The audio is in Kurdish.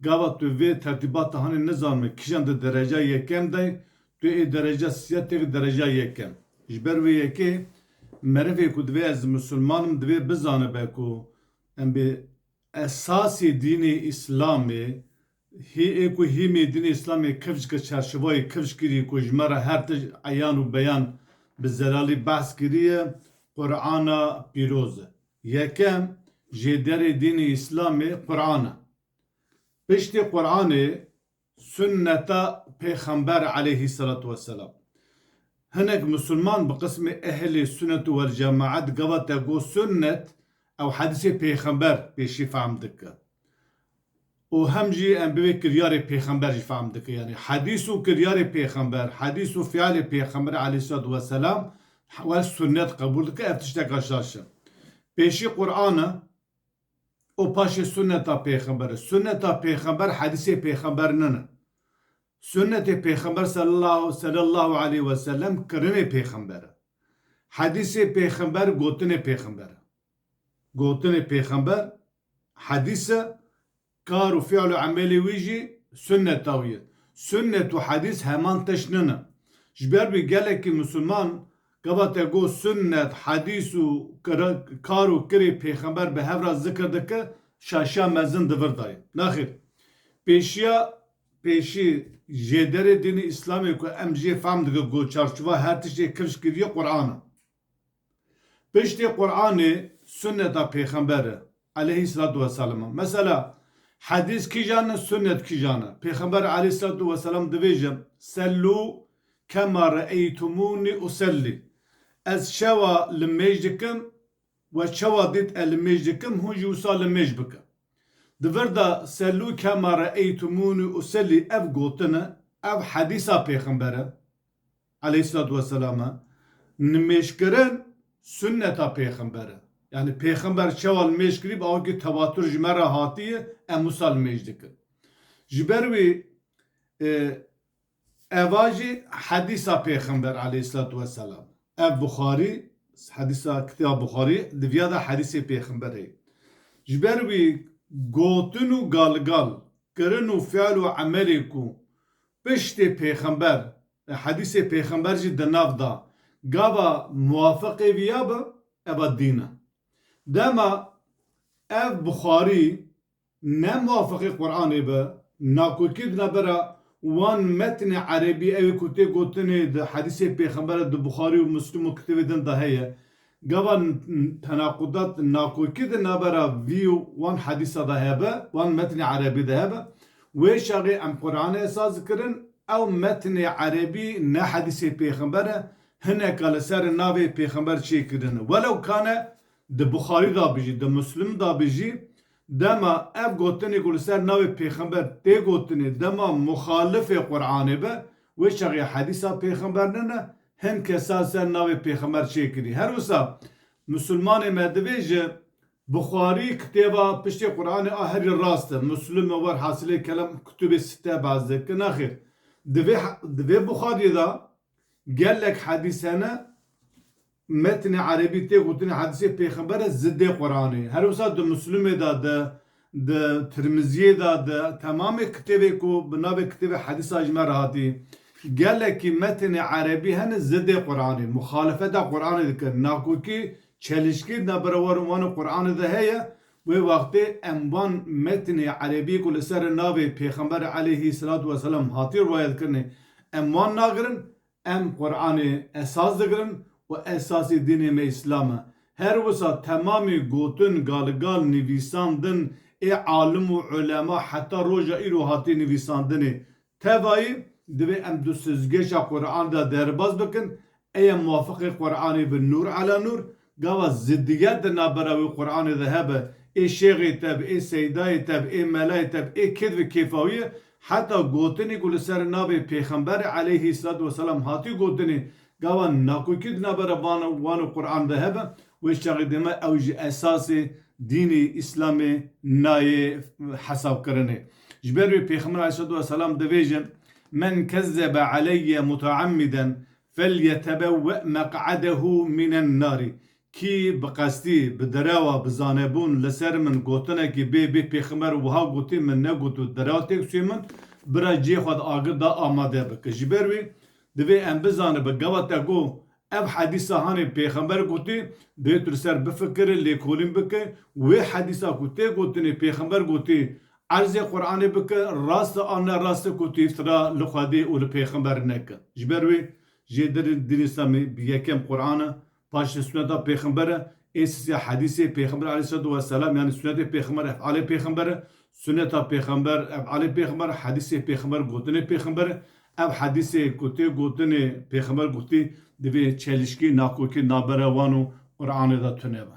Gava tu vê tertîbata hanê nizanime kîjan di dereca yekem de ye, tu ê dereca sîya têk dereca yekem. Ji ber wê yekê merivê ku divê ez misilman im divê bizanibe ku em bi esasê dînê îslamê hî ê ku hîmê dînê îslamê kevcike çarşivayê kevc kirî ku ji me re her tişt eyan û beyan bi zelalî behs kirî ye Qur'ana pîroz e. Yekem jê derê dînê îslamê Quran e. Piştî Quranê sunneta pêxember eleyhî selatû weselam. Hinek musulman bi qismê ehlê sunnetû wel cemaet gava te got sunnet ew hedîsê pêxember pêşî fehm dike. û hem jî em bi vê kiryarê pêxember jî fehm dikin yanî hedîs û kiryarê pêxember, hedîs û fialê pêxemberê aleyhîsselatu weselam wek sunnet qebûl dikin ev tişteka şaş e. Pêşî Quran e û paşê sunneta pêxember e. Sunneta pêxember hedîsê pêxember nine. Sunnetê pêxember selellahu aleyh weselem kirinê pêxember e. Hedîsê pêxember gotinê pêxember e. Gotinê pêxember Hedîse, kar û fîl û emelê wî jî sunnet dawiye. Sunnet û hedîs heman tişt nine. Ji ber vî gelekî misilman gava te got sunnet, hedîs û kar û kirê pêxember bi hev re zikr dike, şaşiya mezin di vir de ye. Nexêr. Pêşiya pêşî jêderê dînê îslamê ku em jê fehm dike ku çarçova her tiştê kifş kiriye Quran e. Piştî Quranê sunneta pêxember e aleyhîsselatu weselam e. Mesela hedîs kîjan e sunnet kîjan e. Pêxember aleyhîsselatu weselam dibêje, Sellû kema re'eytumûnî usellî, Ez çawa li mêj dikim we çawa dît e li mêj dikim hûn jî wisa li mêj bikin. Di vir de Sellû kema re'eytumûnî usellî ev gotin e, ev hedîsa pêxember e. Aleyhîsselatu vesselam e. Nimêjkirin sunneta pêxember e. Yanî pêxember çawa nimêj kirî bi awikî tewatur ji me re hatiye em wisa nimêj dikin. Ji ber wî eva jî hedîsa pêxember aleyhîsselatu vesselam e. Ev Buxarî hedîsa kitêba Buxarî di viya de hedîsê pêxember heye. Ji ber wî gotin û galgal kirin û fial û emelê ku piştê pêxember Hedîsê pêxember jî di nav da. Gava muwafiqê vî ya bi, eva dîn e. Dema ev bi xwarî ne muwafiqê Quranê bi, nakokî dina ber a wan metnê erebî, ewê ku tê gotinê di hedîsê pêxember e di Buxarî û Muslim û kitêbê din de heye. Gava tenaqudat nakokî di navbera vî û wan hedîsa de hebe, wan metnê erebî de hebe. Wê şerê em Quranê esas dikirin, ew metnê erebî ne hedîsê pêxember e, hineka li ser navê pêxember çê kirine. Welew kane di Buxarî de bijî, di Muslim de bijî, dema ev gotinê ku li ser navê pêxember tê gotinê, dema muxalifê Quranê be, wê şerê hedîsa pêxember nine, Hin kesan ser navê pêxemer çê kirî. Her wisa Musulmanê me divê ji Buxarî kitêba piştê Quranê a herî rast e. Muslime wer hasilê kelem û kutubê site behs dike. Nexêr. Divê di vê Buxarî de gelek hedîs hene metnê erebî tê gotinê hedîsê pêxember e zidê Quranê. Her wisa di Muslime de di Di Tirmiziyê de di temamê kitêbê ku bi navê Kitêbê Hedîs a ji me re hatî, gelekî metnê erebî hene zidê Quranê, muxalefeta Quranê dikin, nakokî çelişkî di navbera war û wan û Quranê de heye, wê wextê em van metnê erebî ku li ser navê Pêxember eleyhî selatu weselam hatî riwayetkirinê em wan nagirin, Em Quranê esas digirin û esasî dînê me Îslam e. Her wisa temamî gotin, galgal, nivîsandin ê alim û ulema heta roja îro hatiye nivîsandinê. Tevayî divê em du sizgeşa Quran de derbas bikin, eye muwafiqê Quranê bi nur ala nur, Gava ziddiget di navbera wê Quranê de hebe, ê şêxê te bi, ê seydayê te bi, ê melayê te bi, ê kid bi kêfawiyê, heta gotinê ku li ser navê Pêxemberê aleyhîsselatû weselam hatiye gotinê, gava nakokî di navbera van wan û Quran de hebe, wê çaxê dê me ew ji esasê dînê Îslamê nayê hesabkirinê. Ji ber wê Pêxember aleyhîsselatû weselam divêje, Men kezzebe aleyye mutaammiden Felyetebewwe meq'edehu minen nari, kî bi qestî, bi derewa, bi zanebûn li ser min gotinekî bê bê pêxember wiha gotî min negot û derew têk çû min bira ciyê xwe di agir de amade bike. Ji ber wê divê em bizanibe gava te ku ev hedîsa hanê pêxember gotî divê tu li ser bifikire lêkolîn bike wê hedîsa ku tê gotinê pêxember gotî Erzê Quranê bike rast e an ne rast e ku tu îftira li Xwedê û li pêxember neke. Ji ber wê jê dir in Dînê Îslamî yekem Quran e, paşê suneta pêxember e, ê sisê hedîsê pêxember aleyhîsselatu weselam yanî sunetê pêxember efalê pêxember e, suneta pêxember efalê pêxember e, hedîsê pêxember gotinê pêxember e. Ev hedîsê ku tê gotin ê pêxember gotî divê çelişkî, nakokî navbera wan û Quranê de tune be.